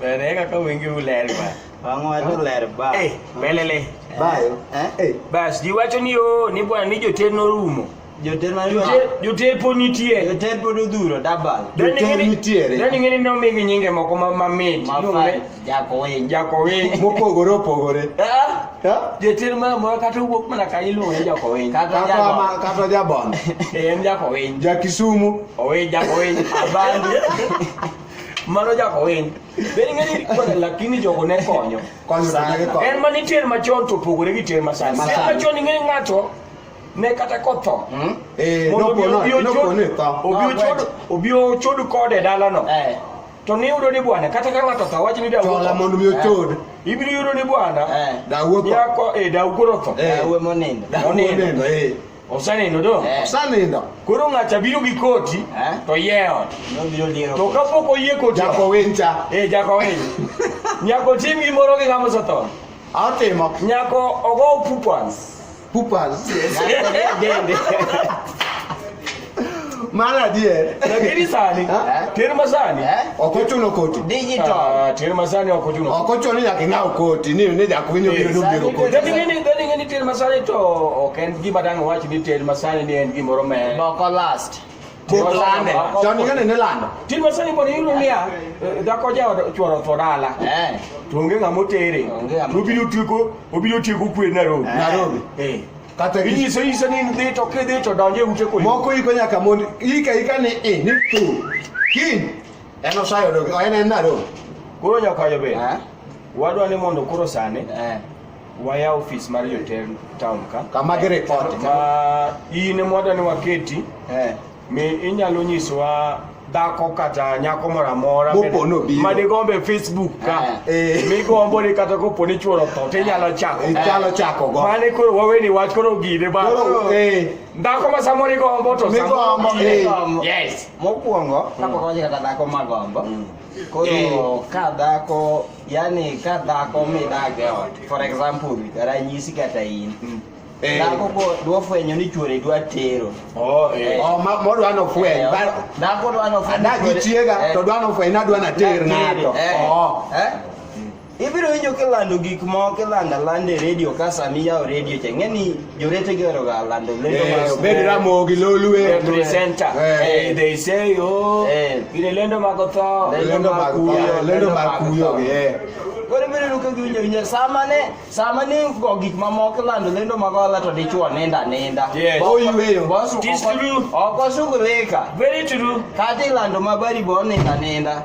Bene kaka wingi uler ba. Wangu watu uler ba. Eh, belele. Bayo. Eh? eh. Bas, jiwacho ni yo ni bwana ni joter norumo. Joter norumo. Joter po nitie. Joter po dudhuro dabal. Joter nitie. Dani ngene no migi nyinge moko ma mamit. Jakowiny. Jakowiny. Mopogore opogore. Jotir ma moro kata owuok mana ka iluonge Jakowiny. Kata Jabon. Kata Jabon. Eh, en Jakowiny. Jakisumu. Owiny Jakowiny. Abandi. Mano Jakowiny. Bende ng'eni kwana lakini jogo ne konyo. Konyo sana gikonyo. En ma nitie machon to opogore gi tier masani. Masani. Tier machon ing'eni ng'ato ne kata kotho hmm? eh, obi ochod kode dalano eh. to niyudo ni bwana kata ka ng'ato otho wach ni dawola mondo mi ochod eh. ibiro yudo ni bwana eh. dawuotho yako e eh, dawuotho otho dawe monindo monindo eh osanindo do osanindo koro ng'acha biro gi koti to yewo to kapok oyie koti jako wincha eh jako wincha nyako tim gimoro gi ng'ama osetho atimo nyako ogo pupans Pupal. Mara die. Lakini sani. Terma sani. Okocho no koti. Digital. Ah, terma sani okocho no. Okocho ni yakinga koti ni ne ya kuvinyo biro biro koti. Dadi ngeni dadi ngeni terma sani to oken gima dang wachi ni terma sani ni en gimoro me. Boko last. Mochande. Chon ing'ane ne lando. Tin masani pod iyudo niya, eh, dhako jaoda chworo otho dala. Eh. To onge ng'ama otere. Onge ng'ama To obiro tieko, obiro tieko kwe Nairobi. Eh. Nairobi. Eh. Kata gi- Inyiso inyiso ni in dhi to kidhi to donje ute kwe. moko iko nyaka mond ika ika ni i ni tu. Kin. En osayo dog. En en Nairobi. Koro nyakayo be. Eh. Wadwa ni mondo koro sani Eh. waya ofis mar jotend town ka kama gi report ma in mwada ni waketi eh mi inyalo nyiswa dhako kata nyako moro amora ma digombe facebook ka eh. eh. migombo ni kata kopo ni chuoro tho to inyalo chako eh. inyalo chako go mane koro waweni wach koro gine ba dhako ma samoro igombo to migombo yes mokwongo kapok mm. waje kata dhako magombo mm. koro ka dhako yani ka dhako midak e ot for example ranyisi kata in mm. eh. dhako ko dwa fwenyo ni chuore dwa tero oh, eh. eh. oh, modwa no fweny dhako dwa no fweny adagi chiega to dwa no fweny nadwa na ter ng'ato oh. ibiro winjo kilando gik moko kilando alanda e redio ka sami yawo redio cha ng'eni Jowete gero ga lando lendo eh, mar Obedo eh, Ramogi Lolwe eh, presenter. Eh, they say oh, gine lendo mag otho, lendo mag kuyo, lendo mag kuyo eh. Koro biro luka gi winjo winjo sama ne sama ne go gik mamoko lando lendo mag ola to dichuo nenda nenda. Yes. Oh, you will. Boss, true. Oko shughulika. Very true. Kati lando mabari bo nenda nenda.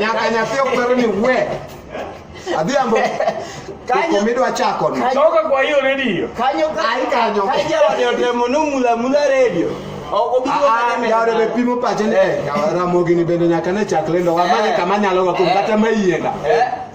Nyakanyafio kwero ni we. Adhiambo. Kanyo midwa chako ni. Toka kwa hiyo redio. Kanyo kanyo. Kanyo. Kanyo demo no mula mula redio. Ah, ah, Yaore be pimo pache ni. Eh. Yaore mogini bende nyaka ne chak lendo. Wamane eh. kama nyalo ga kum kata eh. mayienda. Eh.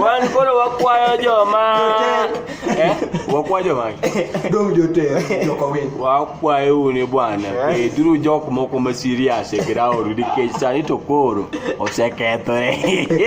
Wan koro wakwayo joma eh, wakwayo joma dong joter joko winy. Wakwayo uni bwana, beduru jok moko ma serious e ground nikech sani to koro osekethore.